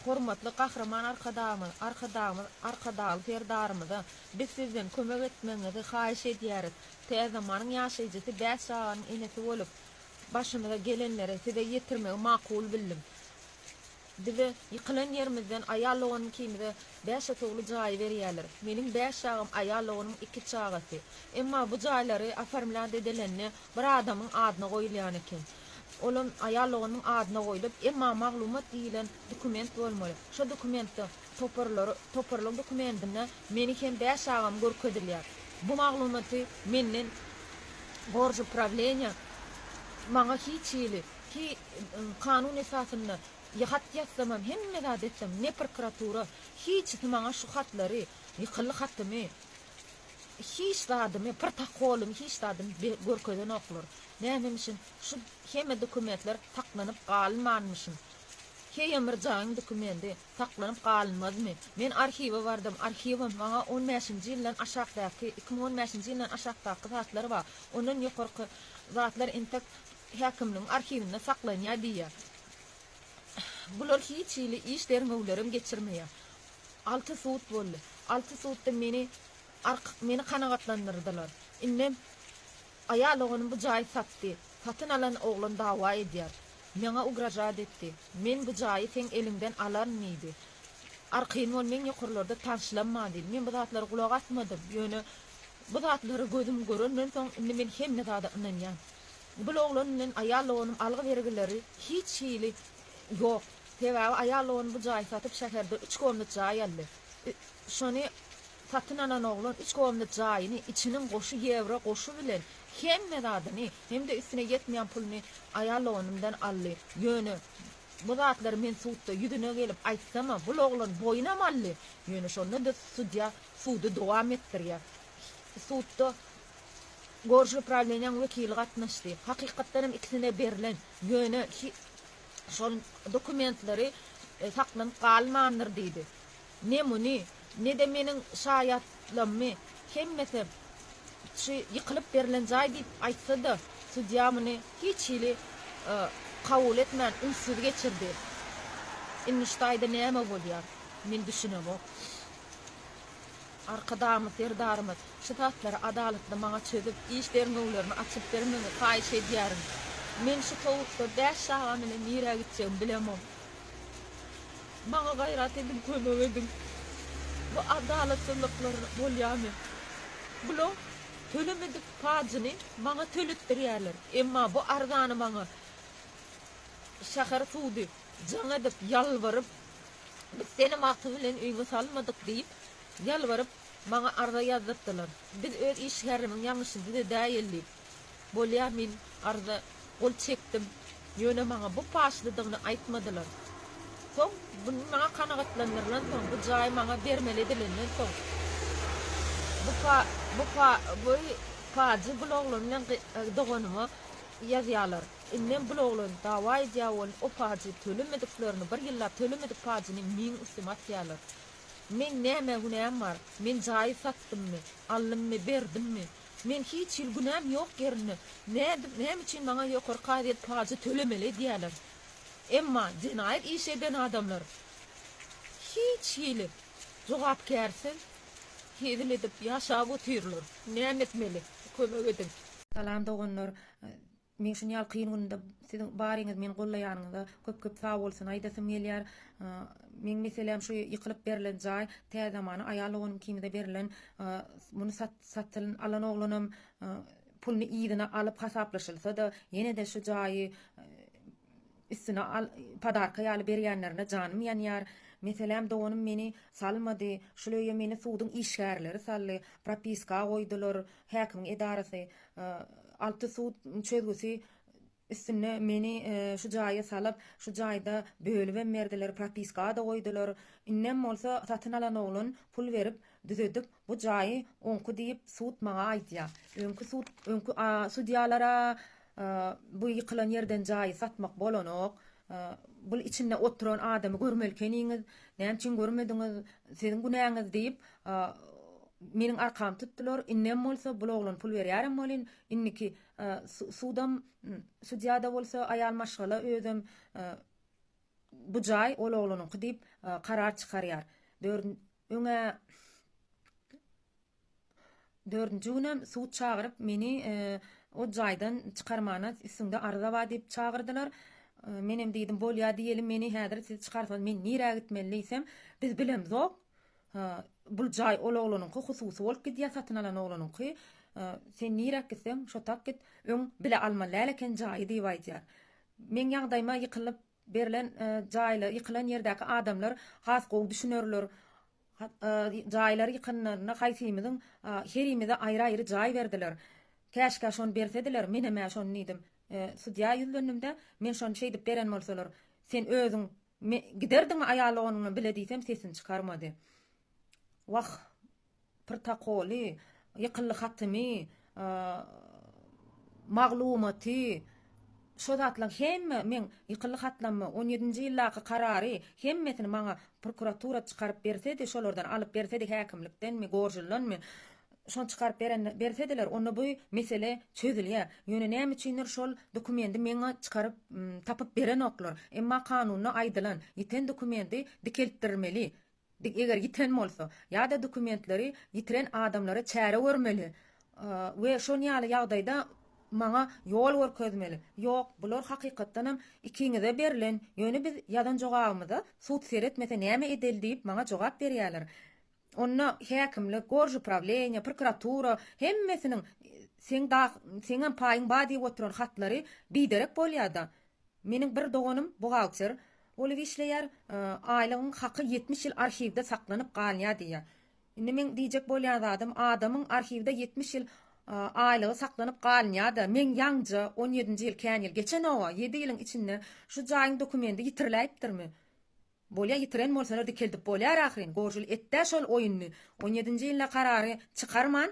Hormatly Gahryman Arkadagymyz, Arkadagymyz Arkadagly Serdarymyza biz sizden kömek etmegiňizi haýyş edýäris. Täzemanyň ýaşaýjysy bäş çaganyň enesi bolup, başymyza gelenleri size ýetirmegi makul bildim. Bize ýykylan ýerimizden aýal doganym ikimize bäş otagly jaýy berýärler. Meniň bäş çagam, aýal doganymyň iki çagasy. Emma bu jaýlary oformlä dedelende bir adamyň adyna goýulýan eken. Olam aýal loganynyň adyna goýlup, emma maglumat diýilen dokument bolmaly. Şo dokumentde toparlary, toparlyk dokumentinde meni hem bäş çagamy görkezilýär. Bu maglumaty menden Gorzupravleniýe maňa hiç hili, hi, kanun esasynda hat ýazsamam, hemme zat etsem, ne prokuratura, hiçisi maňa şu hatlary, ýykyldy hatymy, Hiç zadymy, protokolymy hiç zadymy be görkezenoklar. Nämemişin, şu hemme dokumentler saklanyp galynmanmyşyn? Heýemyrzaýyň dokumendi saklanyp galynmazmy? Men arhiwe bardym, arhiwem maňa on bäşinji ýyldan aşakdaky, iki müň on bäşinji ýyldan aşakdaky zatlar bar, ondan ýokarky zatlar entek häkimligiň arhiwinde saklanýar diýýär. Bular hiç hili iş derňewlerem geçirmeýär. Alty sud boldy. Alty sudda meni ark meni kanagatlandyrdylar. Indem aýal oganym bu jaýy satdy. Satyn alan oglan dawa edýär. Maňa ugražat etdi. Men bu jaýy seň eliňden alaryn diýdi. Arkyn bol meň ýokarlarda tanşlanma diýdi. Men bu zatlara gulak asmadym. Ýöne bu zatlara gözüm görenden soň indi men hemme zada ynanýan. Bul oglan bilen aýal doganym algy-bergileri hiç hili Ýok. Sebäbi aýal ony bu jaýy satyp şäherde üç komnat jaý aldy. Şony satyn alan oglan üç komnat jaýyny, içiniň goşy ýewro goşy bilen hemme zadyny, hem-de üstüne ýetmeýän puluny aýal loganymdan aldy. Ýöne bu zatlary men sudda ýüzüne gelip aýtsamam, bul oglan boýunam aldy. Ýöne şonda-da sudýa sudy dowam etdirýär. Sudda Gorjuly prawleniýäň wekili gatnaşdy. Hakykatdan hem ikisine berlen, ýöne hi şol dokumentlary saklanyp galmandyr diýdi. Ne muny, ne-de meniň şaýatlammy hemmesi şy ýykylyp berlen jaý diýip aýtsa-da, sudýa muny hiç hili kabul etmän ünssüz geçirdi. Indi şu jaýda näme bolýar, men düşünemok. Arkadagymyz, Serdarymyz, şu zatlary adalatly maňa çözüp, iş derňewlerini açyp bermegiňi haýyş edýärin. Men şu sowukda bäş çagam bilen nirä gitjegimi bilemok. Maňa gaýrat ediň, kömek ediň. Bu adalatsyzlyklar bolýarmy? Bulaň tölemedik pajyny maňa töletdirýärler. Emma bu arzany maňa şäher sudy jaň edip, ýalbaryp, Biz seni magty bilen öýüňe salmadyk diýip, ýalbaryp, maňa arza ýazdyrtdylar. Biz öz işgärimiň ýalňyşyny düzedäýeli diýip, bolýa men arza gol çekdim, ýöne maňa bu paçlydygyny aýtmadylar. Soň, bu maňa kanagatlandyrylansoň, bu jaý maňa bermeli edilenden soň, bu pa, bu pa, bu pajy bul oglan bilen doganyma ýazýarlar. Indem bul oglan dawa edýä bolun o pajy tölemediklerini bir ýyllap tölemedik pajyny meň üstüme atýalar. Meň nämä günäm bar? Men jaýy satdymmy? Aldymmy? Berdimmi? Men hiç hili günäm ýok ýerinde nädip näme üçin maňa ýokary kazyýet pajy tölemeli edýäler? Emma jenaýat iş eden adamlar hiç hili jogapkärsiz hezil edip ýaşap otyrlar. Näme etmeli? Kömek ediň. Salam doganlar. Meň şun ýaly kyn günümde siziň baryňyz meni gollaýanyňyza köp köp sagbolsun aýdasym gelýär. Meň meseläm şu ýykylyp berlen jaý tä zamana aýal doganym kimize berlen muny satyn alan oglanam puluny yzyna alyp hasaplaşylsada ýenede şu jaýy Üstüne al, padarka ýaly berýänlerine janym ýanýar. Meselem, doganym meni salmady. Şul öýe meni suduň işgärleri saldy. Propiska goýdular. Häkimiň edarasy. Alty sud çözgüsi üstünde meni şu jaýa salyp, şu jaýda bölübem berdiler, propiska-da goýdular. Indem bolsa satyn alan oglan pul berip, düzedip, Bu jaýy oňki diýip sud maňa aýdýa. Öňki sud öňki sudýalara bu ýykylan ýerden jaýy satmak bolanok. Bul içinde oturan adamy görmelikeniňiz. Näme üçin görmediňiz? Siziň günäňiz diýip meniň arkamy tutdylar. Indem bolsa bul oglan pul berýärem welin indiki sudam sudýada bolsa aýal maşgala özem bu jaý ol oglanyňky diýip karar çykarýar. Öňe Dördünji günem sud çagyryp, meni o jaýdan çykarmana üstüňde arza bar diýip çagyrdylar. Menem diýdim, bolýa diýelim, meni häzir siz çykarsaňyz men nirä gitmeli diýsem, biz bilemzok. Bul jaý ol oglanyňky, hususy bolup gidýär, satyn alan oglanyňky. Sen niräk gitseň, şotak git. Öň bile almaly däl eken jaýy diýip aýdýar. Meň ýagdaýyma ýykylyp, Berlen jaýla ýykylan ýerdäki adamlar has gowy düşünerler. Jaýlar ýykanlarynda haýsymyzyň herimize aýry-aýry jaý berdiler. Käşkä şony bersediler, menem-ä şony diýdim. Sudýa ýüzlendim-de, Men şony şeýdip beren bolsalar, sen özüň giderdiňmi aýal doganyňdan bile diýsem sesini çykarmady. Wah, protokoly, ýykyldy hatymy, maglumaty, şo zatlaň hemme meň ýykyldy hatlamy, on ýedinji ýyldaky karary hemmesini maňa prokuratura çykaryp bersedi, şolardan alyp bersedi häkimlikdenmi, gorjuldanmy, şony çykaryp berende bersediler, onda bu mesele çözülýär. Ýöne näme üçindir şol dokumendi meňe çykaryp, tapyp berenoklar. Emma kanunda aýdylan, ýiten dokumenti dikeltdirmeli, Biz eger ýiten bolsa, ýa-da dokumentleri ýitiren adamlara çäre görmeli we şon ýaly ýagdaýda maňa ýol görkezmeli. Ýok, bular hakykatdanam ikiňize berlen, ýöne biz ýazan jogabymyza sud seretmese näme edeli diýip maňa jogap berýärler. Onda häkimlik, gorzuprawilenýe, prokuratura hemmesiniň seň seňem paýyň bar diýip oturan hatlary biderek bolýa-da. Meniň bir doganym buhgalter bolup işleýär, aýlygyň haky ýetmiş ýyl arhiwde saklanyp galýar diýýär. Indi meň diýjek bolýan zadym, adamyň arhiwde ýetmiş ýyl aýlygy saklanyp galynýar-da, meň ýaňja on ýedinji ýyl kän ýyl geçen-ow-a, ýedi ýylyň içinde şu jaýyň dokumendi ýitiriläýipdirmi? Bolýa ýitiren bolsalar dikeldip bolýar ahyryn, gorjuly et-dä şol oýuny, on ýedinji ýylda karary çykarman,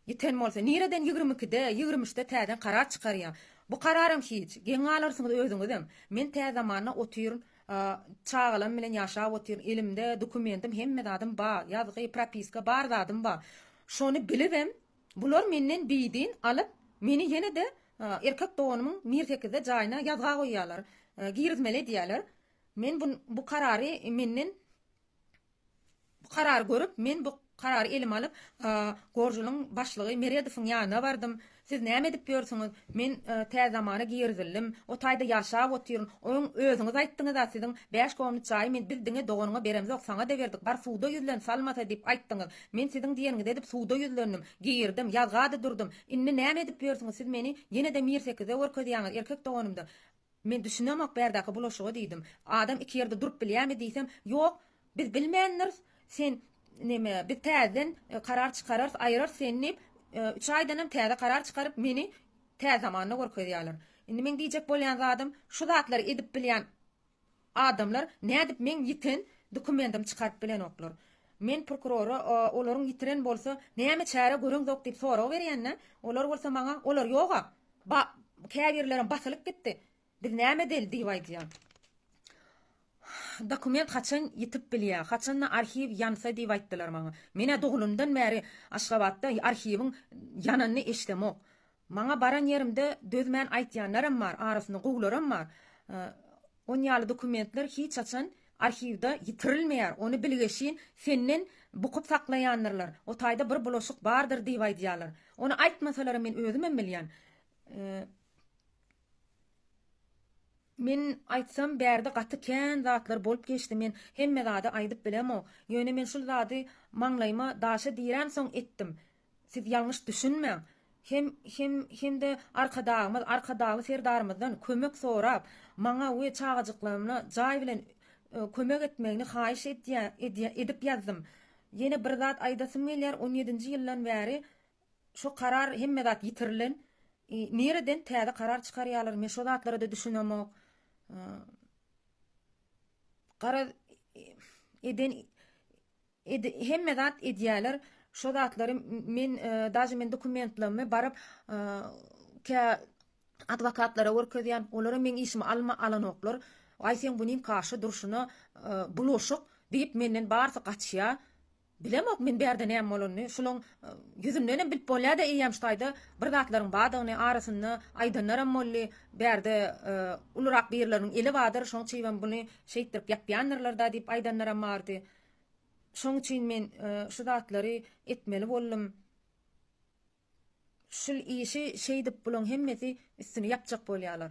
Ýiten bolsa, nireden ýigrimi ikide, ýigrimi üçde täzeden karar çykarýaň? Bu kararam hiç. Geň galarsyňyz özüňizem. Men tä zamana otyryn, çagalam bilen ýaşap otyryn, elimde dokumentim, hemme zadym bar, ýazgy, propiska, bar zadym bar. Şony bilibem, bular menden beýdin alyp, meni ýene-de erkek doganymyň Mir sekizde jaýyna ýazga goýýarlar, girizmeli edýärler. Men bu karary menden Bu karary görüp, men bu karary elime alyp, Gorjulyň başlygy Meredowyň ýanyna bardym. Siz näme edip ýörsüňiz? Men Täze zamana girizildim. O taýda ýaşap otyryn. Oň özüňiz aýtdyňyz-a, siziň bäş komnat jaýy men biz diňe doganyňa beremzok, saňa-da berdik. Bar suda ýüzlen, salmasa diýip aýtdyňyz. Men siziň diýeniňizi edip suda ýüzlendim. Girdim. Ýazga-da durdum. Indi näme edip ýörsüňiz? Siz meni ýene-de Mirsekize görkezýäňiz. Erkek doganym-da. Men düşünemok bärdäki bulaşyga diýdim. Adam iki ýerde durup bilýärmi diýsem, Ýok, biz bilmändiris. Sen, neme, biz täzeden karar çykararys, aýyrarys seni diýip, üç aýdanam täze karar çykaryp, meni Täzetamanda görkezýärler. Indi meň diýjek bolýan zadym, şu zatlary edip bilýän Adamlar nädip meň ýiten dokumendim çykaryp bilenoklar? Men prokurora olaryň ýitiren bolsa näme çäre göreňzok diýip sorag berýände, olar bolsa maňa olar ýog-a, ba, käbirlerem basylyp gitdi, biz näme edeli diýip aýdýa. Dokument haçan ýitip bilýä, haçan-da arhiw ýansa diýip aýtdylar maňa. Men-ä dogulymdan bäri Aşgabatda arhiwiň ýananyny eşdemok. Maňa baran ýerimde dözmän aýtýanlaram bar, arasyna gowularam bar. Onýaly dokumentler hiç haçan arhiwde ýitirilmeýär, ony bilgeşin senden bukup saklaýandyrlar, o taýda bir bulaşyk bardyr diýip aýdýarlar. Ony aýtmasalaram men özümem bilýän. Men aýtsam bärde gaty kän zatlar bolup geçdi, men hemme zady aýdyp bilemok. Ýöne men şul zady maňlaýyma daşa dirämsoň etdim. Siz ýalňyş düşünmäň. Hem, hem, hem-de Arkadagymyz, Arkadagly Serdarymyzdan kömek sorap, maňa we çagajyklarymna jaý bilen kömek etmegini haýyş edýä, edip ýazdym. Ýene bir zat aýdasym gelýär, on ýedinji ýyldan bäri şo karar hemme zat ýitirilen. Nireden täze karar çykarýarlar, men şo zatlara-da düşünemok. Garaz, eden Ed hemme zat edýäler şo zatlary men daže men dokumentlarymy baryp kä adwokatlara görkezýän olara meň işimi alma alanoklar aý seň bu nim kaşa durşuna bulaşyk diýip menden barsy gaçýa bilemok men bärde näme bolanyny şulaň ýüzündenem bilip bolýada eýýäm şu taýda bir zatlaryň badygyny arasynda aýdanlaram boldy bärde ulurak birleriniň eli badyr şoň çybam buny şeýtdirip ýapýandyrlarda diýip aýdanlaram bardy Şoň üçin men şu zatlary etmeli boldum. Şul işi şeýdip bulaň hemmesi üstüni ýapjak bolýalar.